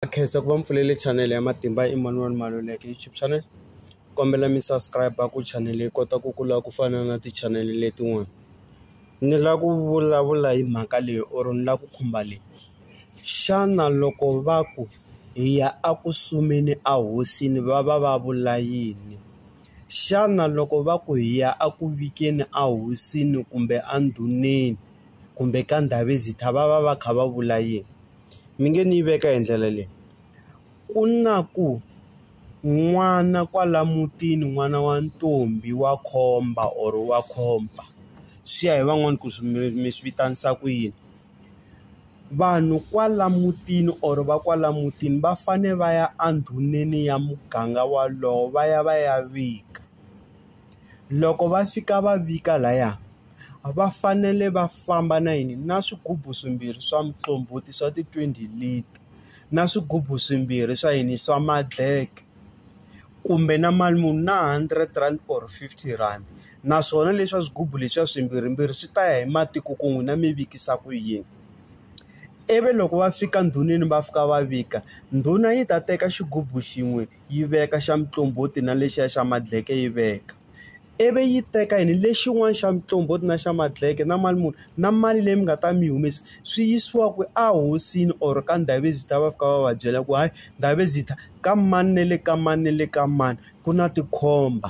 Na khensa ku va mi pfulele chanele ya Matimba Emmanuel Maluleke YouTube channel kombela mi subscribe ku chanele yi kota ku kula ku fana na tichanele letin'wana ni la ku vulavula hi mhaka leyi or ni la ku khumba leyi xana loko va ku hi ya a ku sumeni a hosini va va va vula yini xana loko va ku hi ya a ku vikeni a hosini kumbe a ndhuneni kumbe ka ndhavezitha va va va kha va vula yini. mi nge ni yi veka hi ndlela leyi ku na ku n'wana kwala mutini n'wana wa ntombi wa khomba or wa khomba swi ya hi van'wani ku swi mi mi swi vitanisa ku yini vanhu kwala mutini or va kwala mutini va fane va ya endhuneni ya muganga walowo va ya va ya vika. Loko va fika va vika laya, va fanele va famba na yini? Na swigubu swimbirhi swa muqombhoti swa ti-twenty lita, na swigubu swimbirhi swa yini? Swa ma-black. Kumbe na mali muni? Na hundred rand or fifty rand. Naswona leswa swigubu leswiya swimbirhimbirhi swi ta ya hi matiko ku n'wina mi vikisa ku yini. Ivi loko va fika ndhuneni va fika va vika, ndhuna yi ta teka xigubu xin'we. yi veka xa muqombhoti na lexiya xa madleke yi veka, ivi yi teka yini lexin'wana xa muqombhoti na xa madleke na mali muni na mali leyi mi nga ta mi yi humesa swi yisiwa kwi a hosini or ka Ndabezitha va fika va va byela ku hayi Ndabezitha ka mani na le ka mani na le ka mani ku na tikhomba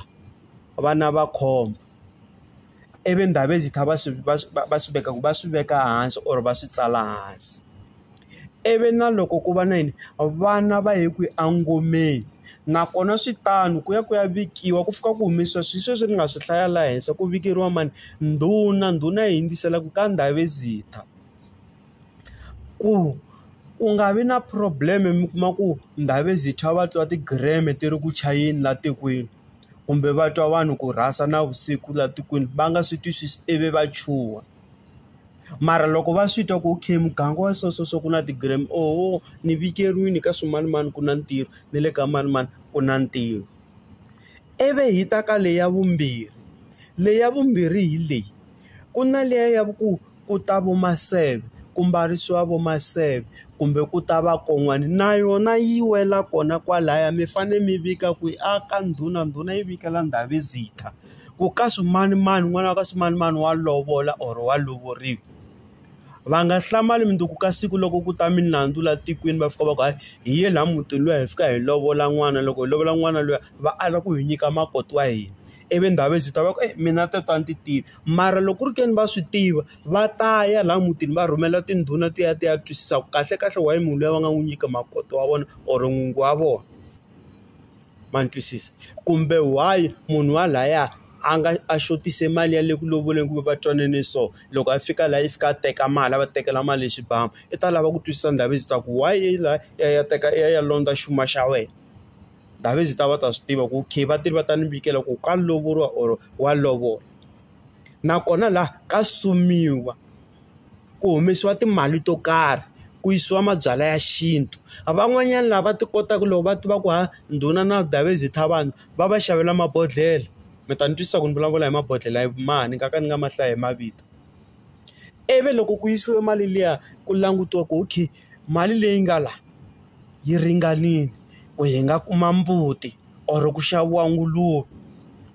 vana va khomba. ivi ndhavezitha va swi va swi va swi veka va swi veka hansi or va swi tsala hansi ivi na loko ku va na yini vana va ye kwihi engomeni nakona swi tano ku ya ku ya vikiwa ku fika ku humesiwa swi sweswi ni nga swi hlaya laha henhla ku vikeriwa mani ndhuna ndhuna yi hundzisela ku ka ndhavezitha ku ku nga vi na problem mi kuma ku ndhavezitha va twa ti-gram-e ti ri ku chayeni laha tikweni. kumbe va twa vanhu ku rhasa navusiku laha tikweni va nga swi twisisi ivi va chuha mara loko va swi twa ku okay muganga wa so so so ku na ti-gram oho ni vikeriwini ka swimanimani ku na ntirho ni le ka manimani ku na ntirho ivi hi ta ka leya vumbirhi leya vumbirhi hi leyi ku na liya ya ku. ku ta vo maseve ku mbarisiwa vo maseve kumbe ku ta vakon'wana na yona yi wela kona kwalaya mi fane mi vika ku a ka ndhuna ndhuna yi vikela ndhavezitha ku ka swimanimani n'wana wa ka swimanimani wa lovola or wa lovoriwa va nga hlamali mundzuku ka siku loko ku ta milandzu la tikweni va fika va ku hayi hi ye la mutini luya hi fika hi lovola n'wana loko hi lovola n'wana luya va ala ku hi nyika makoti wa hina ivi ndhavezitha va ku mina tetiwa ni ti tiva. mara loko ku ri ke ni va swi tiva va ta ya laha mutini va rhumela tindhuna ti ya ti ya twisisa ku kahlekahle why munhu luya va nga n'wi nyika makoti wa vona or n'wingi wa vona ma ni twisisa kumbe why munhu wa laya a nga a xotise mali ya le ku lovoleni kumbe va twanane so loko a fika laha yi fika a teka mali a va tekela mali hi xibamu i ta lava ku twisisa ndhavuko ta ku why i la ya ya teka ya ya londza xuma xa wena. David ta va ta swi tiva ku okay vatirhi va ta ni vikela ku ka lovoriwa or wa lovola nakona laha ka sumiwa ku humesiwa timali to karhi ku yisiwa mabyalwa ya xintu a van'wanyana lava ti kotaka loko va tiva ku ha ndhuna na David ta vanhu va va xavela mabodhlele mi ta ni twisisa ku ni vulavula hi mabodhlele hi mani nga ka ni nga mahlaya hi mavito ivi loko ku yisiwe mali liya ku langutiwa ku okay. mali leyi nga la yi ringanile ku hi nga kuma mbuti or ku xaviwa nguluve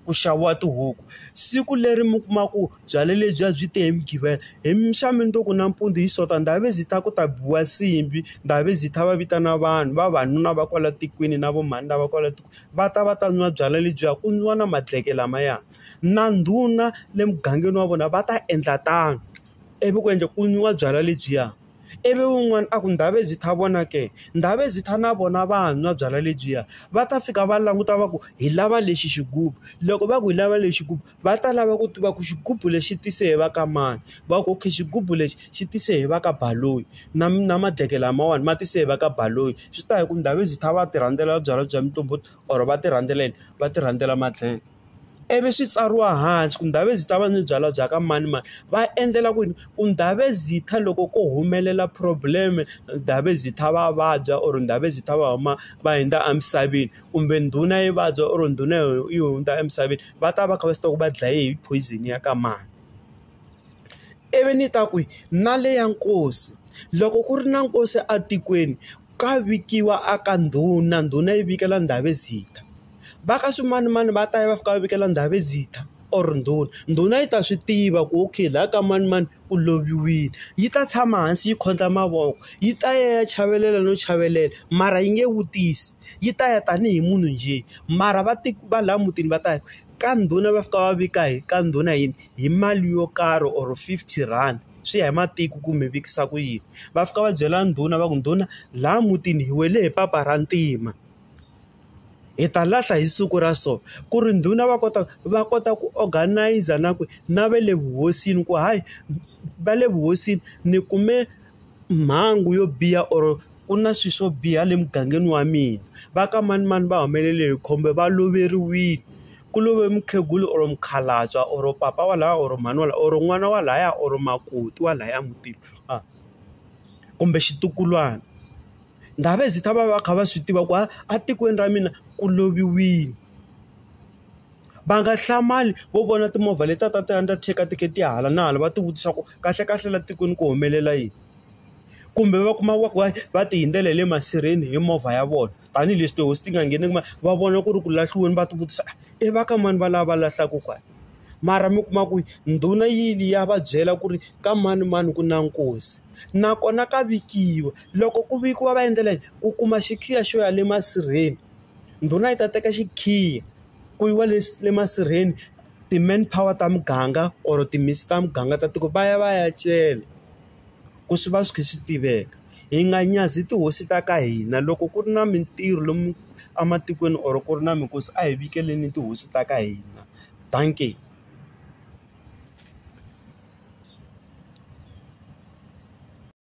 ku xaviwa tihuku siku leri mi kuma ku byalwa lebyi a byi te hi mugqivela hi mixo to ku nampundzu hi sonto ndhavezitha ku ta biwa nsimbhi ndhavezitha va vitana vanhu vavanuna va kwala tikweni na vo mhani lava kwala tikweni va ta va ta nwa byalwa lebyiya ku nwiwa na madleke lamaya na ndhuna le mugangeni wa vona va ta endla tano ivi ku endla ku nwiwa byalwa lebyiya. Ivi un'wana a ku, Ndhavezitha, vona ke, Ndhavezitha na vona va nwa byalwa lebyiya. Va ta fika va languta va ku, hi lava lexi xigubu. Loko va ku hi lava lexi xigubu, va ta lava ku tiva ku xigubu lexi xi tise hi va ka mani? Va ku, okay xigubu lexi xi tise hi va ka Baloyi. Na na madleke lamawani ma tise hi va ka Baloyi. Swi ta ya hi ku Ndhavezitha va ti rhandzela byalwa bya muqombhoti or va ti rhandzela yini? Va ti rhandzela madleke. ivi swi tsariwa hansi ku Ndhavezitha yi ta va ni byalwa bya ka manimani va endlela ku yini ku Ndhavezitha loko ko humelela problem Ndhavezitha va vabya or Ndhavezitha va huma va hundza emisaveni kumbe ndhuna yi vabya or ndhuna yi hundza emisaveni va ta va kha va swi tiva ku va dlaye hi poison ya ka mani ivi ni ta ku na le ya nkosi loko ku ri na nkosi etikweni. Ka vikiwa a ka ndhuna, ndhuna yi vikela ndhavezitha. Va ka swimanimani va ta ya va fika va vikela ndhavezitha or ndhuna. Ndhuna yi ta swi tiva ku okay laha ka manimani ku loviwile. Yi ta tshama hansi yi khotla mavoko, yi ta ya ya chavelela no chavelela mara yi nge vutisi. Yi ta ya tanihi munhu njhe, mara va va laha mutini va ta ku ka ndhuna va fika va vika hi ka ndhuna hi hi mali yo karhi or fifty rand. swi ya hi matiko ku mi vikisa ku yini. Va fika va byela ndhuna va ku ndhuna laha mutini hi wele hi papa ra ntima, hi ta lahla hi siku ra so. Ku ri ndhuna va kota va kota ku organize-a na ku na va le vuhosini ku hayi va le vuhosini ni kume mhangu yo biha or ku na swilo swo biha le mugangeni wa mina. Va ka manimani va humelele hi khombo va loveriwile, ku love mukhegula or mukhalabye or papa wa lahaya or mhani wa lahaya or n'wana wa lahaya or makoti wa lahaya mutini a kumbe xitukulwana ndhavuko ta va va kha va swi tiva ku a etikweni ra mina ku loviwile va nga hlamali vo vona timovha leti a ta ti undertaker ti kha ti ya hala na hala va ti vutisa ku kahle kahle la tikweni ku humelela yini kumbe va kuma va ku va ti hundzela hi le masirheni hi movha ya vona. tanihileswi tihosi ti nga ngheni kuma va vona ku ri ku lahliweni va ti vutisa i va ka mani va lava va lahlaka kwala mara mi kuma ku ndhuna yili ya va byela ku ri ka manimani ku na nkosi nakona ka vikiwa loko ku vikiwa va endlela yini ku kuma xikhiya xo ya le masirheni ndhuna yi ta teka xikhiya ku yiwa le le masirheni ti-man power ta muganga or timhisi ta muganga ta tiko va ya va ya cela. ku swi va swi kha swi tiveka hi nga nyazi tihosi ta ka hina loko ku ri na mintirho lomu ematikweni or ku ri na minkosi a hi vekele tihosi ta ka hina dankie.